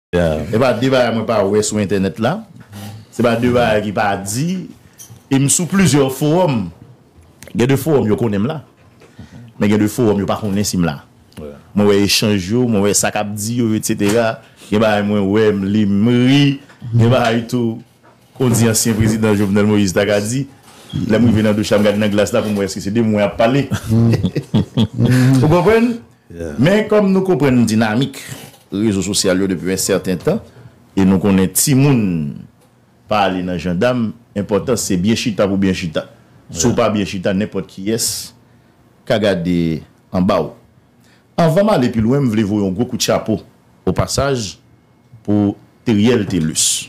Se pa de bagay mwen pa wè sou entènèt la, se pa de bagay ki pa di, e m sou plizyè fowòm, gen de fowòm yo konnen m la, men gen de fowòm yo pa konnen si m la. Mwen wè echanj yo, mwen wè sa k ap di yo, etsetera, gen bagay mwen wè, m li, m ri, gen bagay tou. Ou di ansyen prezidan Jovenel Moïse ta ka di, lè m rive nan douch la m gade nan glas la pou m wè èske se de mwen y ap pale. Ou konprann? Men kòm nou konprann dinamik rezo sosyal yo depi yon sèten tan e nou konnen timoun pa ale nan jandam, enpòtans se byen chita pou byen chita. Si w pa byen chita nenpòt kiyès ka gade anba w. Anvan m ale pi lwen m vle voye yon gwo kout chapo o pasaj pou Theriel Thelus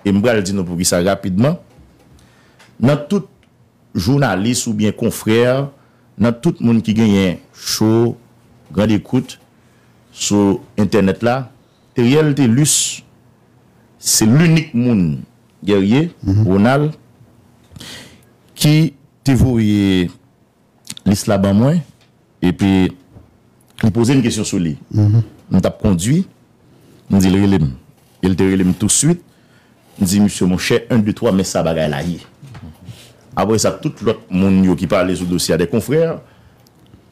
e m pral di nou poukisa rapidman nan tout jounalis oubyen konfrè nan tout moun ki genyen cho grandekout sou entènèt la Theriel Thelus se linik moun Guerrier Ronald ki te voye lis la ban mwen, epi li poze m kesyon sou li. M t ap kondui, m di l rele m. E l te rele m tousuit, m di misye monchè, en, de, twa, men sa bagay la ye. Apre sa, tout lòt moun yo ki pale sou dosye a, dè konfrè,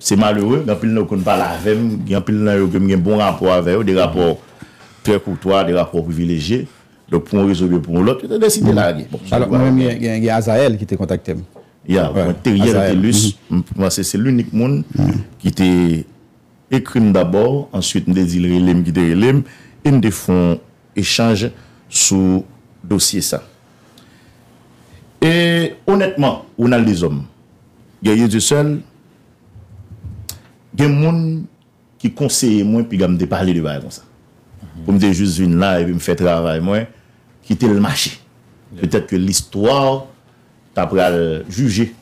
se malere, gen anpil nan yo konn pale avè m, gen anpil nan yo ke m gen bon rapò avè yo, de rapò trè koutwa, de rapò privilejye. Donk pou yon rezon oubyen pou yon lòt, yo te deside lage. Bon, se vwa yo. Alò, mwen menm, gen Azayèl ki te kontakte m. Ya, mwen Theriel Thelus, m panse se linik moun ki te ekri m dabò, answit m te di l rele m ki te rele m e m te fè yon echanj sou dosye sa. E onètman, Ronald Deshommes, Guerrier Dieuseul, gen moun. ki konseye mwen piga m te pale de bagay konsa. Pou m te jis vin la epi m fè travay mwen, kite l mache. Petèt ke listwa ta pral jije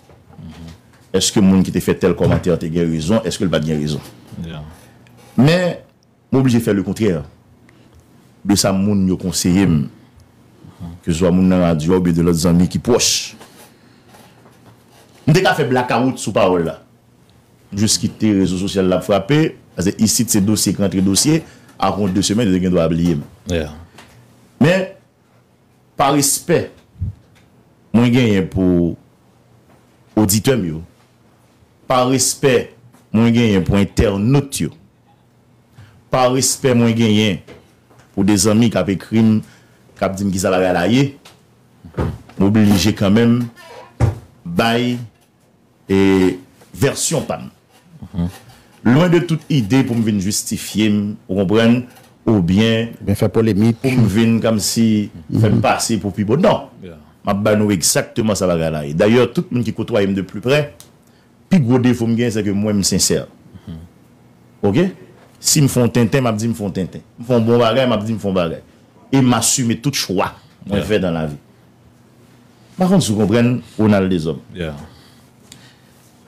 èske moun ki te fè tèl kòmantè te gen rezon, èske l pa t gen rezon. Men, m oblije fè lekontrè de sa moun yo konseye m, keseswa moun nan radyo a oubyen de lòt zanmi ki pwòch. M te ka fè blakawout sou pawòl la. Jis kite rezo sosyal la ap frape, pase isit se dosye k rantre dosye, ak yon 2 semèn yo te gen dwa bliye m. Men, pa respè mwen genyen pou oditè m yo, pa respè mwen genyen pou entènot yo, pa respè mwen genyen pou de zanmi k ap ekri m, k ap di m kisa bagay la ye, m oblije kanmenm bay. E vèsyon pa m. Lwen de tout ide pou m vin jistifye m, ou konprann, oubyen. Oubyen fè polemik. Pou m vin kòmsi fè m pase pou pi bon. Non! M ap ba nou egzakteman sa bagay la ye. Dayè, tout moun ki kotwaye m de pli prè, pi gwo defo m genyen sèke mwen m sensè. Oke? Si m fè yon tenten, m ap di m fè yon tenten. M fè yon bon bagay, m ap di m fè yon bagay. E m asime tout chwa mwen fè nan lavi. M pa konn si w konprann Ronald Deshommes.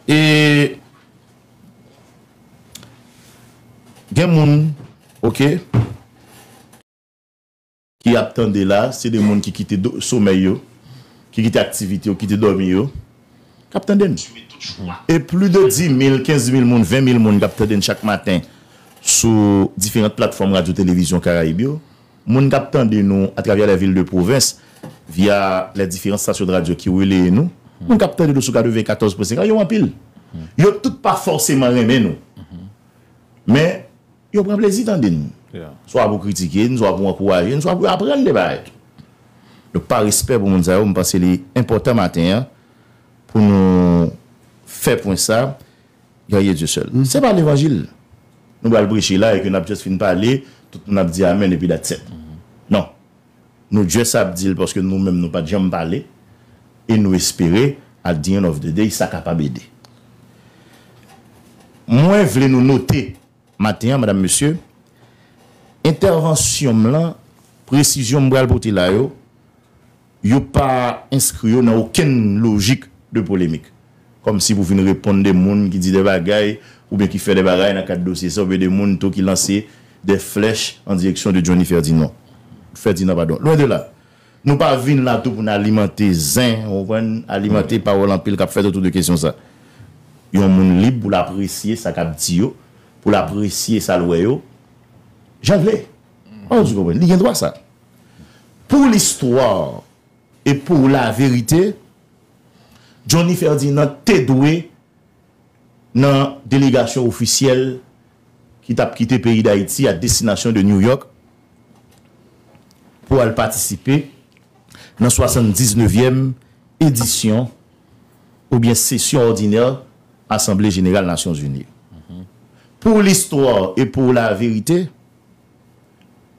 E gen moun ok ki ap tande la se de moun ki kite somèy yo, ki kite aktivite yo, kite dòmi yo k ap tande n. E pli de 10.000, 15.000 moun, 20.000 moun k ap tande n chak maten sou diferant platfòm radyo televizyon Karayib yo. Moun kap tande nou a travè lè vil de pwovens via lè diferan stasyon radyo ki releye nou, moun kap tande nou sou 94 pwen 5 la yo anpil. Yo tout pa fòseman renmen nou. Men yo pran plezi tande nou. Swa pou kritike n, swa pou ankouraje n, swa pou yo aprann de bagay. Donk pa respè pou moun sa yo, m panse li enpòtan maten an pou nou fè pwen sa. Guerrier Dieuseul. Se pa levanjil nou pral preche la e ke nap just fin pale, tout moun ap di amen epi that's it. Non. Nou just ap di l paske nou menm nou pat janm pale e nou espere at the end of the day sa kapab ede. Mwen vle nou note maten an madam mesye, entèvansyon m lan, presizyon m pral pote la yo, Yo pa enskri yo nan okenn lojik de polemik. Kòm si pou vin reponn de moun ki di de bagay oubyen ki fè de bagay nan kad dosye sa oubyen de moun tou ki lanse de flèch an direksyon de Johnny Ferdinand, Fèdinan padon. Lwen de la. Nou pa vin la tou pou n alimante zen, ou konprann, alimante pawòl anpil k ap fèt otou de kesyon sa. Yon moun lib pou l apresye sa k ap di yo, pou l apresye sa l wè yo, jan l vle. Ou konprann? Li gen dwa sa. Pour l'histoire et pour la vérité, Johnny Ferdinand te dwe nan delegasyon ofisyèl ki tap kite peyi Dayiti a destinasyon de New York pou al patisipe nan 79 èm edisyon oubyen sesyon òdinè Asanble Jeneral Nasyonzini. Pour l'histoire et pour la vérité,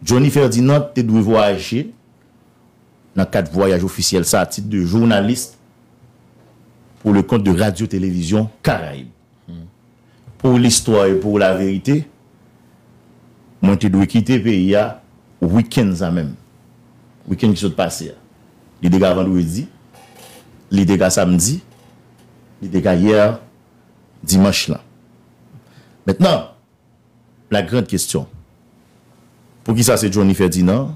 Johnny Ferdinand te dwe vwayaje nan kad vwayaj ofisyèl sa a tit de journaliste pour le compte de Radio Télévision Caraïbes. Pour l'histoire et pour la vérité, mwen te dwe kite peyi a wikenn sa menm, wikenn ki sot pase a. Li te ka vandredi, li te ka samdi, li te ka hier dimanche lan. Mentnan, La grande question. Poukisa se Johnny Ferdinand?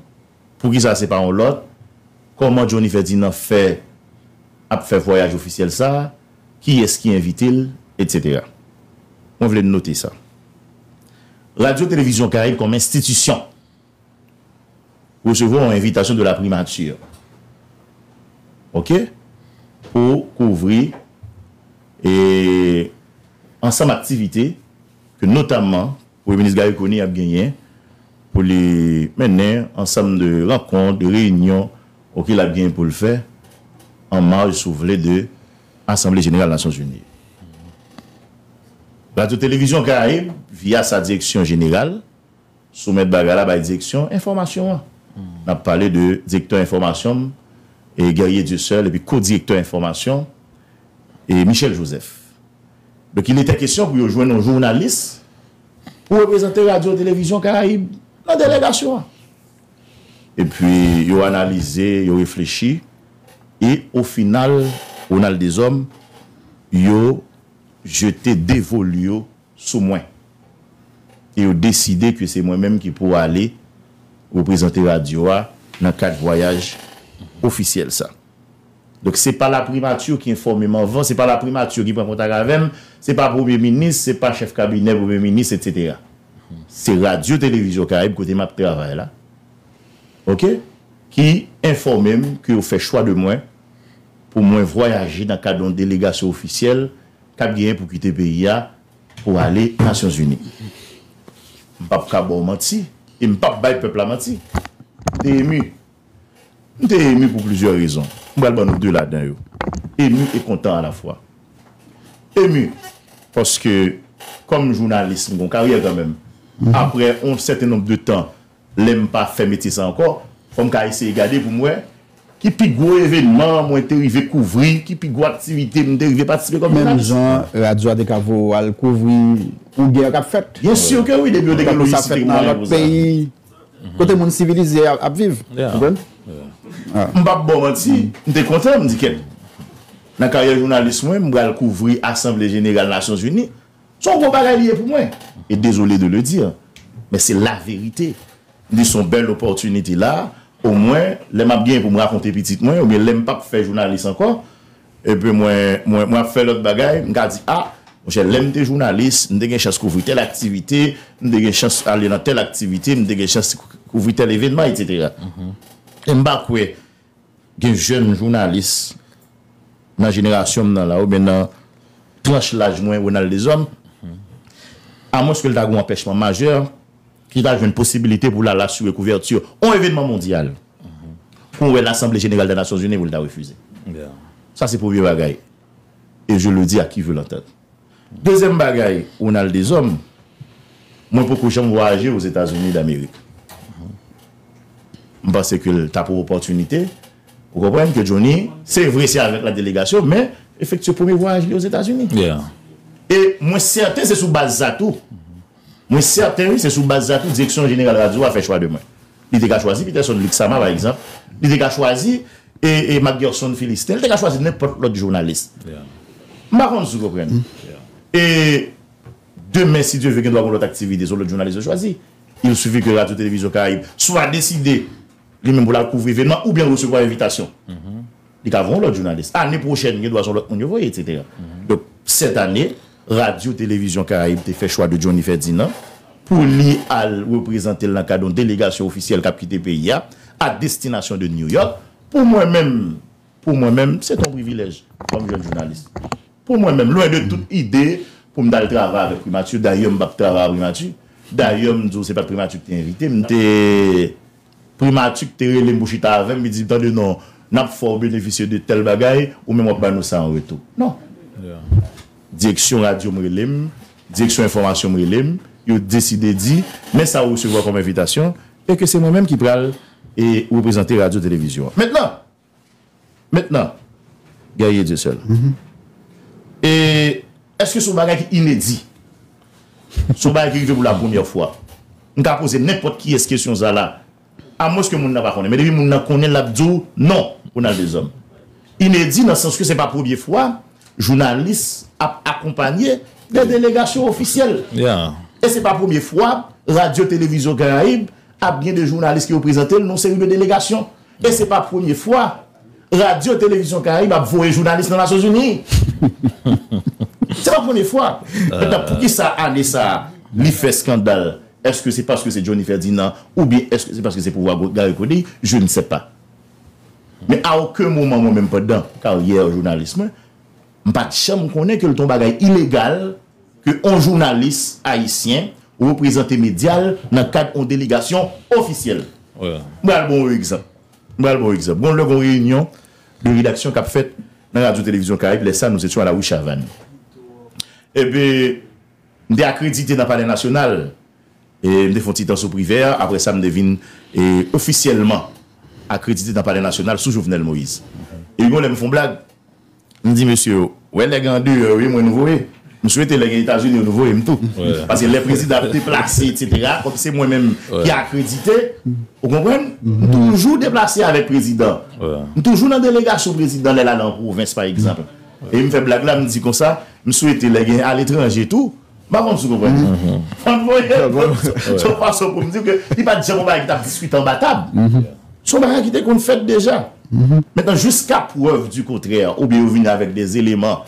Poukisa se pa yon lòt? Kòman Johnny Ferdinand fè ap fè vwayaj ofisyèl sa? Kiyès ki envite l? Etc. Mwen vle n note sa. Radyo Televizyon Karayib kòm enstitisyon resevwa yon envitasyon de la primature ok pou kouvri ansanm aktivite. ke notamman Premye Minis Garry Conille ap genyen pou li mennen ansanm de rankont, de reyinyon ok l ap genyen pou l fè an maj si w vle de Asanble Jeneral Nasyon Zini. Radyo Televizyon Karayib via sa Direksyon Jeneral sou mèt bagay la bay Direksyon Enfòmasyon an. N ap pale de Direktè Enfòmasyon m Guerrier Dieuseul epi Ko-Direktè Enfòmasyon Michel Joseph. Donk il etè kesyon pou yo jwenn yon jounalis pou reprezante Radyo Televizyon Karayib nan delegasyon an. E pi yo analize, yo reflechi e o final Ronald Deshommes yo jete devol yo sou mwen e yo deside ke se mwen menm ki pou ale reprezante radyo a nan kad vwayaj ofisyèl sa. Donk se pa laprimati ki enfòme m anvan, se pa laprimati ki pran kontak avè m, se pa premye minis, se pa chèf kabinè premye minis etsetera. Se radyo televizyon karayib kote m ap travay la ok ki enfòme m ke yo fè chwa de mwen pou mwen vwayaje nan kad yon delegasyon ofisyèl k ap genyen pou kite peyi a pou ale nasyon zini. M p ap ka ba w manti e m p ap bay pèp la manti. M te emu. M te emu pou plizyè rezon. M pral ban nou de ladan yo. Emu e kontan alafwa. Emu, paske kòm jounalis m gen yon karyè kanmenm, aprè yon sèten nonb de tan lè m pa fè metye sa a ankò, fò m ka eseye gade pou m wè ki pi gwo evenman mwen te rive kouvri, ki pi gwo aktivite m te rive patisipe kòm jounalis. Menm jan radyo a te ka voye w al kouvri yon gè k ap fèt. Byen sur ke wi, depi yo te gen lojistik e mwayen pou sa. Kote moun sivilize a ap viv. Ou konprann? M pap ba w manti, m te kontan, m di kèt. Nan karyè jounalis mwen, m pral kouvri asanble jeneral Nasyonzini. Se yon gwo bagay li ye pou mwen. E dezole de le dire, men se la verite. M di se yon bèl opòtinite la, omwen lè m ap gen pou m rakonte pitit mwen oubyen lè m pap fè jounalis ankò, Epi mwen, mwen, mwen ap fè lòt bagay, m ka di, a, monchè, lè m te jounalis, m te gen chans kouvri tèl aktivite, m te gen chans ale nan tèl aktivite, m te gen chans kouvri tèl evènman, etsetera. E m pa kwè gen jèn jounalis nan jenerasyon m nan la, oubyen nan tranch laj mwen, Ronald Deshommes, amwenske l ta gen yon anpèchman majè, ki ta jwenn posibilite pou l al asire kouvèti yon evènman mondyal. Kon wè lasanble jeneral da nasyon zini pou l ta refize. Sa se premye bagay. E je le di a ki ve lantant. Dezyèm bagay Ronald Deshommes, mwen poko janm vwayaje o Zetazini damerik. M panse ke l ta pou opòtinite, ou konprann ke Johnny, se vre se avèk la delegasyon men efektye premye vwayaj li o Zetazini. E mwen sèten se sou baz sa tou. Mwen sèten wi se sou baz sa tou direksyon jeneral radyo a fè chwa de mwen. Li te ka chwazi Peterson Luc Sama pa egzanp, li te ka chwazi Macgerson Philistin, li te ka chwazi nenpòt lòt jounalis. M pa konn si w konprann. E demen si Dye ve gen dwa gen lòt aktivite se yon lòt jounalis yo chwazi. Il suffit ke Radyo Televizyon Karayib swa deside li menm pou l al kouvri evenman oubyen l resevwa envitasyon. Li ka voye yon lòt jounalis. Ane pwochèn gen dwa se yon lòt moun yo voye, eksetera. Donk sètane. Radyo Televizyon Karayib te fè chwa de Johnny Ferdinand pou li al reprezante l nan kad yon delegasyon ofisyèl k ap kite peyi a a destinasyon de New York. Pou mwen menm, pou mwen menm, se te yon privilèj kòm jèn jounalis. Pou mwen menm, lwen de tout ide pou m t al travay avèk Primati, dayè m pa t travay a Primati, dayè m di w se pa t Primati ki te envite m, m te Primati k te rele m pou chita avè m, li di m, Tande non, n ap fè w benefisye de tèl bagay, ou menm w ap ban nou sa an retou. Non! Direksyon radyo m rele m, direksyon enfòmasyon m rele m, yo deside di, Men sa ou resevwa kòm envitasyon, e ke se mwen menm ki pral reprezante radyo televizyon an. Mentnan! Mentnan, Guerrier Dieuseul, e, èske se yon bagay ki inedi? Se yon bagay ki rive pou la premyè fwa? M ka poze nenpòt kiyès kesyon sa la, amwenske moun nan pa konnen. Men depi moun nan konnen l ap di w non, Ronald Deshommes. Inedi nan sans ke se pa premye fwa jounalis ap akonpanye de delegasyon ofisyèl. E se pa premye fwa Radyo Televizyon Karayib ap gen de jounalis ki reprezante l nan yon seri de delegasyon. E se pa premye fwa Radyo Televizyon Karayib ap voye jounalis nan Nasyonzini. Se pa premye fwa. Mentnan pou ki sa ane sa a li fè skandal? Eske se paske se Johnny Ferdinand oubyen eske se paske se pouvwa Garry Conille? Je ne sais pas. Men a oken moman mwen menm pandan karyè jounalis mwen, M pat janm konnen ke l t on bagay ilegal ke on jounalis ayisyen reprezante medya l nan kad on delegasyon ofisyèl. M pral ba w on egzanp. M pral ba w egzanp. Gon lè gon reyinyon de redaksyon k ap fèt nan Radyo Televizyon Karayib, lè sa nou se t yon ala wi Chavann. Epi m te akredite nan Palè Nasyonal. E m te fon ti tan sou Privè a, aprè sa m te vin ofisyèlman akredite nan Palè Nasyonal sou Jovenel Moïse. Epi gon lè m fon blag. M di mesye yo, wè nèg an deyò yo ye mwen nou voye. M swete lè gen Etazini yo nou voye m tou. Paske lè prezidan ap deplase etsetera, kòm se mwen menm ki akredite, ou konprann, m toujou deplase avèk prezidan. M toujou nan delegasyon prezidan lè l ale an pwovens pa egzanp. E m fè blag la m di konsa, m swete lè gen aletranje tou, M pa konn si w konprann sa. Fò n voye l sou fason pou m di w ke li pa t janm yon bagay ki t ap diskite anba tab. Se yon bagay ki te konn fèt deja. Mentnan jiska prèv di kontrè oubyen yo vini avèk de eleman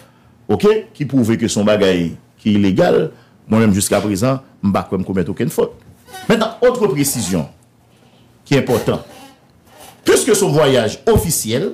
oke ki pwouve ke se yon bagay ki ilegal, mwen menm jiska prezan m pa kwè m komèt okenn fot. Mentnan otre presizyon ki enpòtan, piske se yon vwayaj ofisyèl,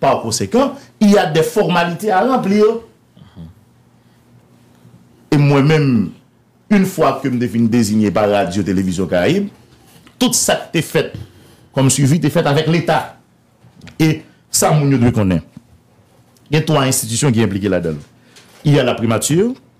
Par conséquent, il y a des formalités à remplir et mwen menm une fois que m te fin désigné par Radio Télévision Caraïbes, tout sa k te fèt comme suivi te fèt avec l'État. Et sa moun yo dwe konnen, gen 3 institutions ki impliqué ladan l. Il y a la primature.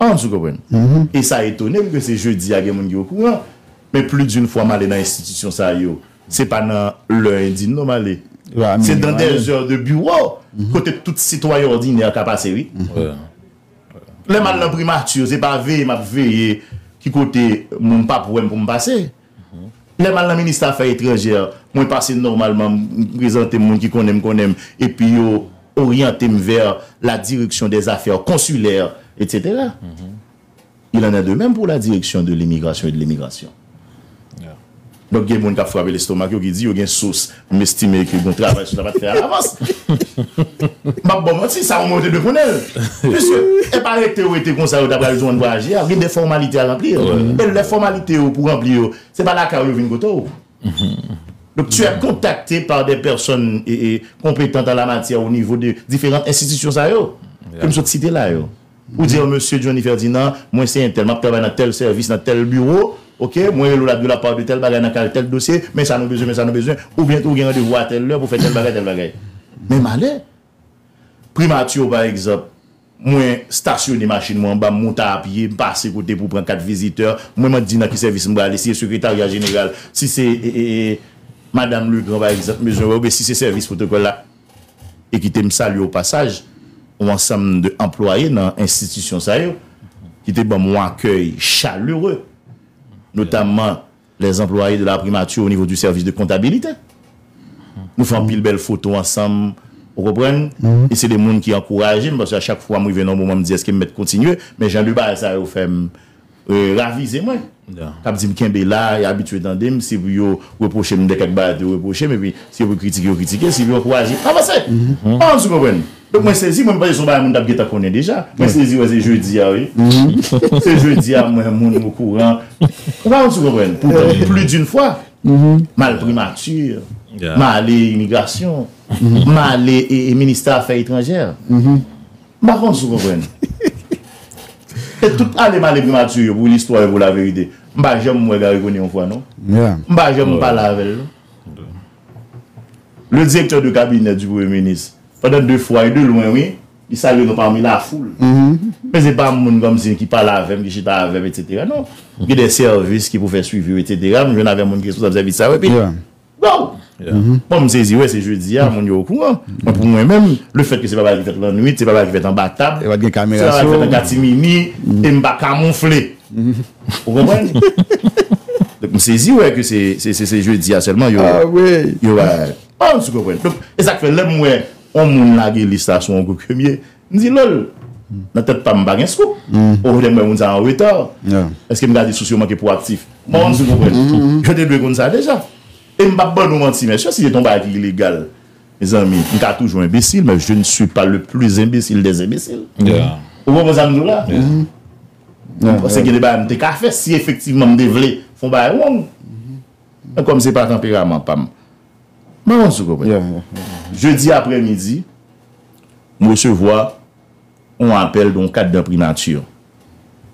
Ange, ou konprann? E sa etone m ke se jodi a gen moun ki okouran. Men pli doun fwa m ale nan enstitisyon sa yo, se pa nan lè endin non m ale. Se dan dè zè de biwo, kote tout sitwayen òdinè ka pase wi. Lè m al nan primati yo, se pa veye m ap veye ki kote moun pa p wè m pou m pase. Lè m al nan Ministe Afè Etranjè, mwen pase nòmalman, m prezante m, moun ki konnen m konnen m, epi yo oryante m vè la Direction des Affaires Consulaires, etc. Il en est de même pour la Direction de l'Immigration et de l'Émigration. Donk gen moun k ap frape lestomak yo ki di yo gen sous. M estime ke gon travay sou sa pa t fè alavans. M pa p ba w manti, sa omwen yo te dwe konnen l. Piske e pa rete yo rete konsa yo ta pral jwenn vwayaje a. Gen de fòmalite a ranpli. E lè fòmalite yo pou ranpli yo, se pa lakay ou yo vin kote w. Donk tu è kontakte par dè pèsòn konpetant an lamatyè onivo de diferan enstitisyon sa yo ke m sot site la yo. Ou di yon mesye Johnny Ferdinand, mwen se entèl, map travay nan tèl sèvis, nan tèl biwo, ok, mwen rele w lap di w la parle de tèl bagay nan kal tèl dosye, men sa nou bezwen, men sa nou bezwen, oubyen tou ou gen randevou a tèl lè pou fè tèl bagay, tèl bagay. Men malè! Primati yo pa egzanp, mwen stasyone machin mwen anba, m moute a pye, m pase kote pou pran kat vizitè, mwen man di nan ki sèvis m prale, si e sekretarya jeneral, si se e e e madam Legrand pa egzanp m bezwen wè, oubyen si se sèvis pwotokòl la. e kite m salye o pasaj on ansanm de anplwaye nan enstitisyon sa yo ki te ban m on akèy chalere, notamman les employés de la primature au niveau du service de comptabilité. Nou fè anpil bèl foto ansanm, ou konprann, e se de moun ki ankouraje m, paske a chak fwa m rive nan on moman m di èske m mèt kontinye, men jan de bagay sa yo fè m. Ravize mwen, k ap di m kenbe la, y abitye tande m, se pou yo repwoche m de kèk bagay yo repwoche m, epi si yo pou kritike yo kritike, si yo pou ankouraje yo avanse! An sou konprann? Donk mwen sezi, mwen panse se yon bagay moun t ap gentan konnen deja. Mwen sezi wè se jodi a wi, se jodi a m wè moun okouran, ou pa an sou konprann? Poutan pli din fwa, m al primati, m ale imigrasyon, m ale ministè afè etranjè. M pa konn si w konprann. E tout ale male primati yo pou listwa yo pou laverite, m pa janm wè Garry Conille yon fwa non. M pa janm pale avè l non. Le direktè de kabinè di premye minis, pandan de fwa e de lwen wi, li salye nou pami lafoul. Men se pa moun kòmsi ki pale avè m, ki chita avè m, etc. Non. Gen de sèvis ki pou fè swivi yo, etc. M jwenn avè moun ki responsab sèvis sa yo epi. Waww! Bon m sezi wè se jodi a moun yo okouran. Mwen pou mwen menm, lefèt ke se pa bagay ki fèt lannwit, se pa bagay ki fèt anba tab, se pa bagay ki fèt an katimini e m pa kamonfle. Ou konprann? Donk m sezi wè ke se jodi a sèlman yo bay. Ou konprann? Donk e sa k fè lè m wè yon moun lage lis la sou yon gwoup ke m ye, M di lol. Nan tèt pa m m pa gen scoop. Ohh lè m wè moun sa an reta. Eske m ka di sous yo manke pwoaktif? M pa konn si w konprann. Yo te dwe konn sa deja. E m p ap ban nou manti mesye, si se te yon bagay ki ilegal, mezanmi, m ka toujou enbesil men je ne suis pas le plus imbecile des imbeciles. Ou konprann sa m di w la? M panse gen de bagay m te ka fè si efektivman m te vle fè yon bagay wrong. Men kòm se pa tanperaman pa m. Mwen panse ou konprann. Jedi aprè midi, m resevwa yon apèl de yon kad nan Primati.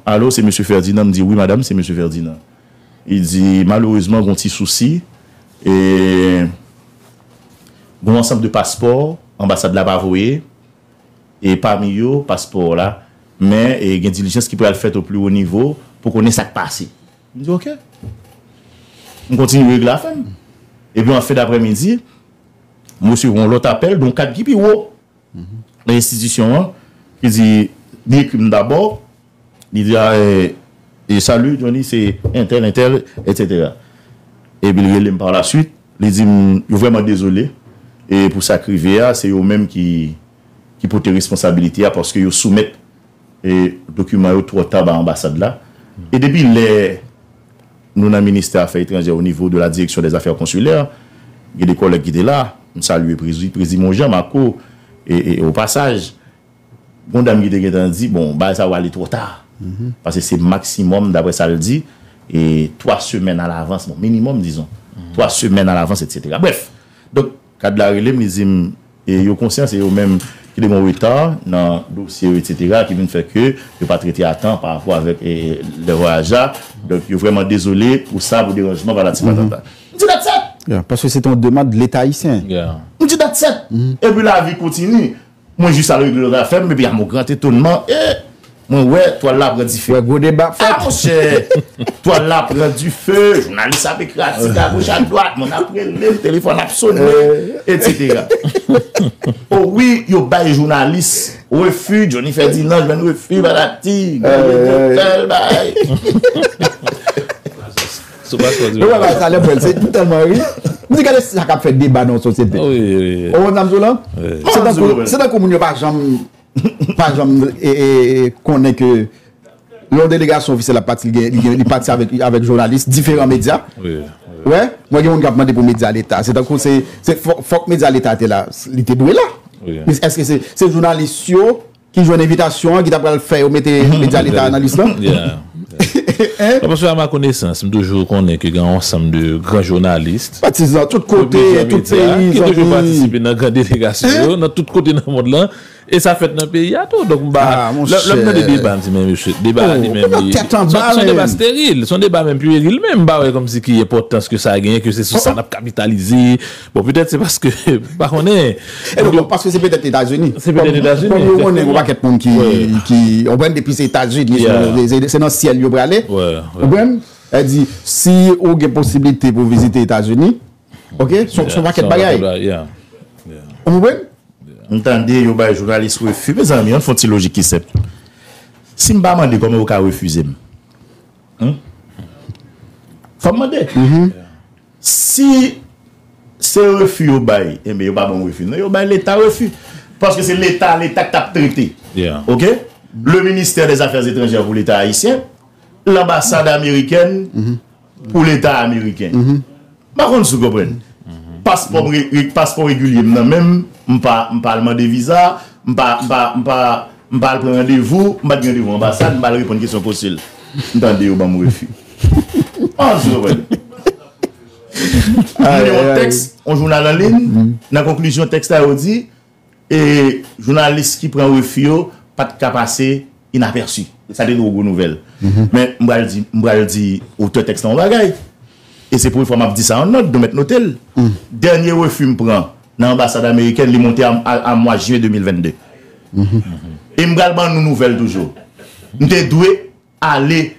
Alo, se Mesye Ferdinand? M di, wi madam, se Mesye Ferdinand. Li di, malerezman, gen yon ti sousi. E, gen yon ansanm de paspò, anbasad la pa voye. E, pami yo, paspò w la. Men, gen dilijans ki pral fèt o pli wo nivo pou konnen sa k pase. M di ok. M kontinye regle afè m. Epi an fen daprèmidi, m resevwa yon lòt apèl de yon kad ki pi wo nan enstitisyon an ki di, li ekri m dabò, li di e salut Johnny se entèl entèl etsetera. Epi l rele m parlasuit, li di m yo vrèman dezole e pou sa k rive a se yo menm ki pote responsabilite a paske yo soumèt Dokiman yo twò ta ba anbasad la. E depi lè nou nan ministè afè etranjè o nivo de la direksyon dè zafè konsilè, gen de kòlèg ki te la, m salye Prezi Monjan, Mako, o pasaj, gon dam ki te gentan di, bon, bagay sa yo ale twò ta. Pase se maksimòm, daprè sa l di, 3 semèn a lavans, bon, minimòm dizon, 3 semèn a lavans, etsetera. Brèf! Donk. Kad la rele m, li di m yo konsyan se yo menm ki te gen reta nan dosye yo etsetera ki vin fè ke yo pa trete a tan pa rapò avèk lè vwayaj la, donk yo vrèman dezole pou sa, pou deranjman patati patata. M di Datsèt! Paske se te yon demand Leta Ayisyen. M di Datsèt! Epi lavi kontini. Mwen jis al regle lòt afè m epi a mon grand etonman ee mwen wè twal la pran dife. Wè gwo deba ap fèt. A monchè! Twal la pran dife, jounalis ap ekri atik a goch ak dwat, moun ap rele m, telefòn ap sone, etsetera. O wi, yo bay jounalis refi, Johnny Ferdinand jwenn refi patati, Guy Edel fè l bay. Sou paspò di mwen Mwen salè pou el M telman ri M di gade sa kap fè deba nan yon sosyete Ou konn sa m di w la Se tankou moun yo pa janm Pa janm konnen ke Lè yon delegasyon ofisyèl ap pati Li pati avèk jounalis diferan medya Mwen gen moun kap mande pou medya leta Se tankou se fòk medya leta te la Li te dwe la Eske se jounalis yo Ki jwenn envitasyon an ki ta pral fè yo mete medya leta a nan lis lan. Ya. Non paske a ma konesans, m toujou konnen ke gen yon ansanm de gran jounalist. Patizan tout kote, tout peyi, zanmi. Ki toujou patisipe nan gran delegasyon yo, nan tout kote nan mond lan. E sa fèt nan peyi a tou. Donk m pa. A mon chè. Lè m tande deba m di men mesye, deba a li menm li. Ou nan tèt anba menm. Son deba steril. Son deba menm pueril menm. M pa wè kòmsi ki enpòtans ke sa genyen, ke se sou sa n ap kapitalize. Bon petèt se paske, m pa konnen. E non, bon paske se petèt Etazini. Se petèt Etazini. Kòm yo konnen yon pakèt moun ki, ki, ou konprann depi se Etazini, se nan syèl yo prale. Ou konprann? Sa di, si ou gen posiblite pou vizite Etazini, ok, se yon pakèt bagay. Ou konprann? M tande yo bay jounalis refi. Mezanmi, an n fon ti lojik ki senp. Si m pa mande, kòman yo ka refize m? Fòm mande, si se refi yo bay, enben yo pa banm refi non, yo bay leta refi. Paske se leta, leta k tap trete. Ok? Le ministè dè zafè etranjè pou leta ayisyen, lanbasad amerikèn pou leta ameriken. M pa konn si w konprann. Paspò regilye m nan men m, m pa al mande viza, m pa al pran randevou, m pa t gen randevou anbasad, m pa al reponn kesyon konsil. M tande yo ban m refi. M pa konn si w konprann. Mwen li yon tèks yon jounal anliy, nan konklizyon tèks la yo di. E jounalis ki pran refi yo pa t ka pase inapèsi. Sa te twò gwo nouvèl. Men, m pral di, m pral di otè tèks lan yon bagay. E se premye fwa m ap di sa an nòt, nou mèt note l. Dènye refi m pran nan anbasad amerikèn, li monte a mwa jen 2022. E m pral ban nou nouvèl toujou. M te dwe Ale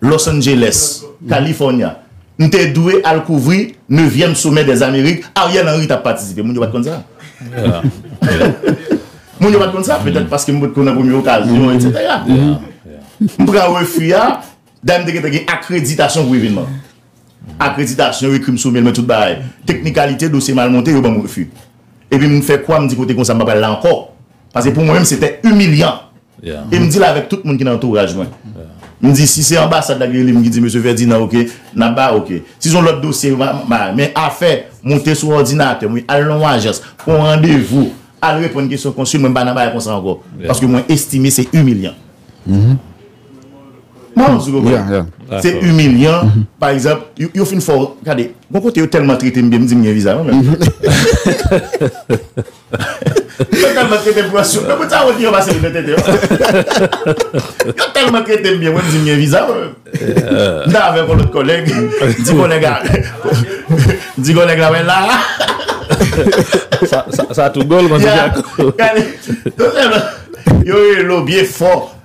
Los Angeles, California, m te dwe al kouvri nevyèm somè dè Amerik, Ariel Henry tap patisipe. Moun yo pat konn sa. Moun yo pat konn sa, petèt paske m pot ko nan premye okazyon, etc. M pran refi a, dayè m te gentan gen akreditasyon pou evenman. Akreditasyon, yo ekri m sou mail mwen tout bagay. Teknikalite, dosye mal monte, yo ban m refi. Epi m fè kwa, m di kote konsa m pa pral la ankò. Paske pou mwen menm se te imilyan. E m di l avèk tout moun ki nan antouraj mwen. M di si se anbasad la ki rele m ki di mesye Fèdinan ok, n ap ba ok. Si se yon lòt dosye, m a men afè moute sou òdinatè mwen, al nan yon ajans, pran randevou, al reponn kesyon konsil mwen m pa nan bagay konsa ankò. Paske mwen estime se imilyan. M ap di w konprann. Se imilyan. Pa egzanp, yo fin fè w, gade, gon kote yo tèlman trete m byen m di m gen viza menm. Yo telman tretem pran souf. Nan bout sa wè ki yo pase mwen tenten yo. Yo telman tretem byen mwen m di m gen viza mwen menm. M ta avek yon lot koleg. M di koleg la m di koleg la mwen la. Sa tou gol konsa. Yo relo byen fò.